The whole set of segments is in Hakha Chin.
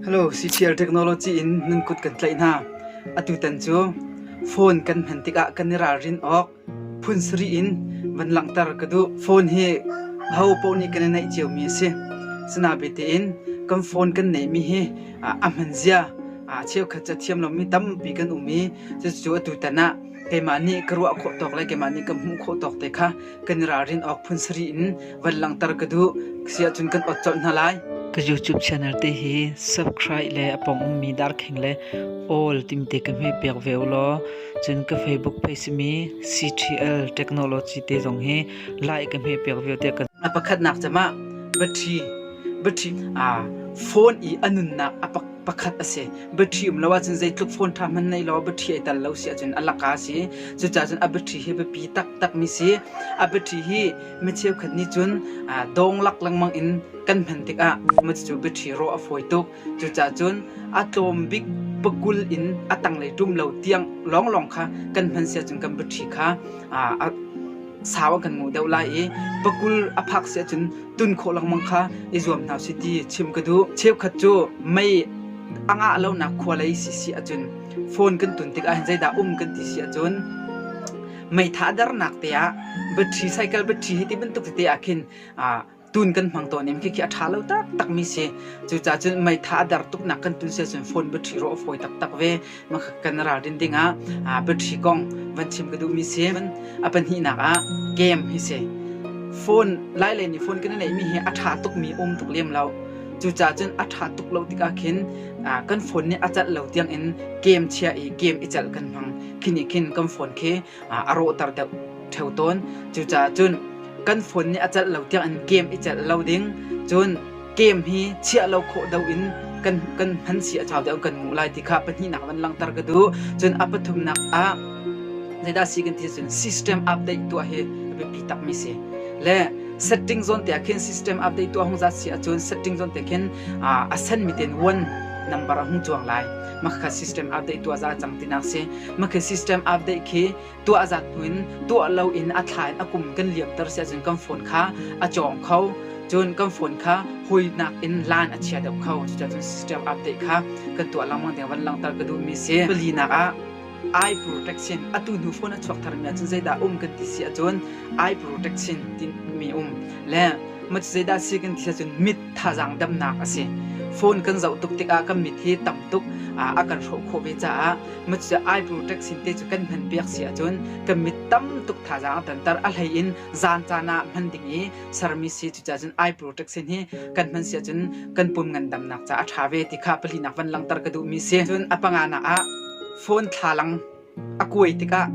Hello, CCL technology in nan kut kan tlaih hna. Atutan cu phone kan hman tikah kan i ralrin awk phun sarih in van langhter ka duh. Phone hi ho paoh nih kan i naih ciomi a si. Sinabe in kan phone kan neihmi hi a hman zia cheukhat cu thiam lomi tampi kan um i cucu atutan ah keimah nih ka ruah khawh tawk le keimah nih ka hmuh khawh tawk te kha kan i ralrin awk phun in van langhter ka duh siahcun kan ot colh hna lai. Ka YouTube channel te hi subscribe le apong ummi darkheng le all timte ka hme pek ve law cun ka Facebook page simi CTL Technology te zong hi like ka hme pek ve te ka a pakhat nak chama battery battery a phone i anunnak apak pakhat a si battery um lo ahcun zeitluk phone ṭha hmanh nei law battery ai tel lo si ahcun a laka a si cucaah cun a battery hi biapi taktak mi si a battery hi mi cheukhat nih cun dawng lak lengmang in kan hman tikah cucu battery rawh a fawi tuk cucaah cun a tlawm bik pakul in a tanglei ṭum lo tiang lawnglawng kha kan hman si ahcun kan battery kha a sau a kan ngo deuh lai i pakul a phak si ahcun tun khawh lengmang kha i zuam hna si ti chim ka duh. Cheukhat cu mei a ngah lonak khua lei si si ahcun phone kan tun tikah hin zeidah um kan ti si ahcun meitha darnak te ah battery cycle battery hi ti bantuk tete ah khin tun kan hmang tawn im khi khi a ṭha lo taktakmi si. Cucaah cun meitha a der tuknak kan tun siah cun phone battery rawh a fawi taktak ve. Makhat kan ralrin dingah battery kong van chim ka duhmi si. A pahnihnak ah game hi si. Phone lai le nih phone kan i neihmi hi a ṭha tukmi um tuk lem lo. Cucaah cun a ṭha tuk lo tikah khin kan phone nih a calh lo tiangin game chia i game i celh kan hmang. Khi nih khin kan phone khi a rawhter theo tawn. Cucaah cun kan phone nih a celh lo tiangin game i celh lo ding cun game hi chiah lo khawh deuh in kan kan hman si a chau deuh kan nguh lai ti kha pahnihnak van langhter ka duh cun a pathumnak ah zeidah si kan ti cun system update tuah hi a biapi takmi si le setting zone te ah khin system update tuah hung zat si ahcun setting zone te khin a san mi ten one number a hung chuang lai makha system update tuah za cang tinak si makha system update khi tuah zat tuin tuah lo in a thla in a kum kan liam ter se cun kan phone kha a chong kho cun kan phone kha hoi nak in lan a chia deuh kho cuca cun system update kha kan tuah langmang deng van langtar ka duh mi si pali nak ah Aipur Taksin atu hnu phone a chuak tharmi ahcun zeidah um kan ti si ahcun Aipur Taksin timi um le mac zeidah si kan ti ahcun mit thazaang damnak a si phone kan zoh tuk tikah kan mit hi tam tuk a kan hrawh khawh ve caah mac Aipur Taksin te cu kan hman piak si ahcun kan mit tam tuk thazaang a tanter a hlei in zaan caan ah hman ding i sermi si cucahcun Aipur Taksin hi kan hman si ahcun kan pum ngandamnak caah a ṭha ve ti kha pali nak van langhter ka duhmi si cun a panga nak ah Phone thlalang a kuai tikah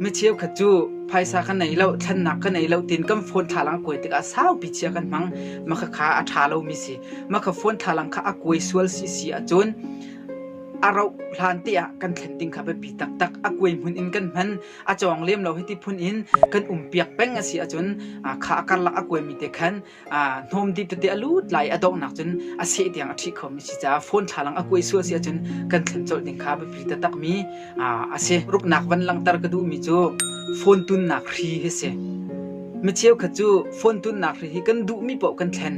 mi cheukhat cu phaisa ka nei lo, thlennak ka nei lo tiin kan phone thlalang a kuai tikah saupi chia kan hmang. Makha kha a ṭha lomi si. Makha phone thlalang kha a kuai sual si si ahcun a rauh hlan te ah kan thlen ding kha biapi taktak. A kuai hmun in kan hman. A cawng lem lo hiti phun in kan umpiak peng a si ahcun kha a karlak a kuaimi te khan hnawm dip tete a lut lai a donghnak cun a seh tiang a ṭhih khomi si caah phone thlalang a kuai sual si ahcun kan thlen colh ding kha biapi taktakmi a si. Ruknak van langhter ka duhmi cu phone tunnak hri hi si. Mi cheukhat cu phone tunnak hri hi kan duhmi paoh kan thlen.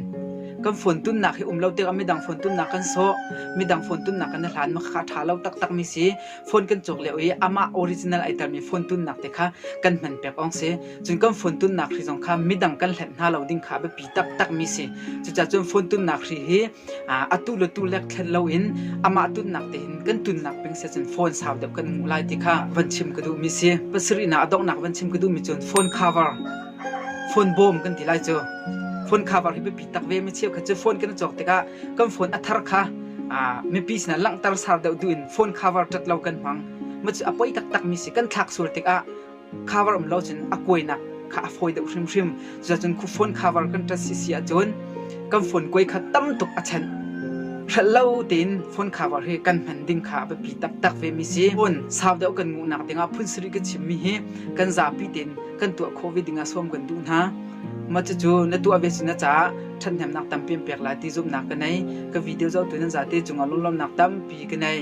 Kan phone tunnak hi um lo tikah midang phone tunnak kan sawh, midang phone tunnak kan hlan ma kha ṭha lo taktakmi si. phone kan cawk lio i amah original ai telmi phone tunnak te kha kan hman pek awng si cun kan phone tunnak hri zong kha midang kan hlet hna lo ding kha a biapi taktak mi si cucaah cun phone tunnak hri hi atu le tu lek thlet lo in amah tunnak te in kan tunnak ping se cun phone sau deuh kan mu lai ti kha van chim ka duh mi si pasarihna adongnak van chim ka duh mi cun phone cover Phone bawm kan ti lai cu. Phone kha var hi biapi tak ve mi cheu kha cu phone kan i cawk tikah kan phone a thar kha mipi sinah langhter sar deuh duh in phone khavar tat lo kan hmang. Ma cu a poi taktak mi si kan thlak sual tikah khavar um lo cun a kuainak kha a fawi deuh hrimhrim. Cuca cun khu phone khavar kan tat si si ahcun kan phone kuai kha tam tuk a chanh. Hralh lo tein phone khavar hi kan hman ding kha a biapi taktak ve mi si. Phone sau deuh kan nguhnak dingah phun sarih kan chim mi hi kan zapi tein kan tuah khawh ve dingah sawm kan duh hna ma cucu na tuah ve sin caah ṭhathnemnak tam pem pek lai ti zumnak ka nei ka video zohtu nan zate cungah lunglawmnak tampi ka nei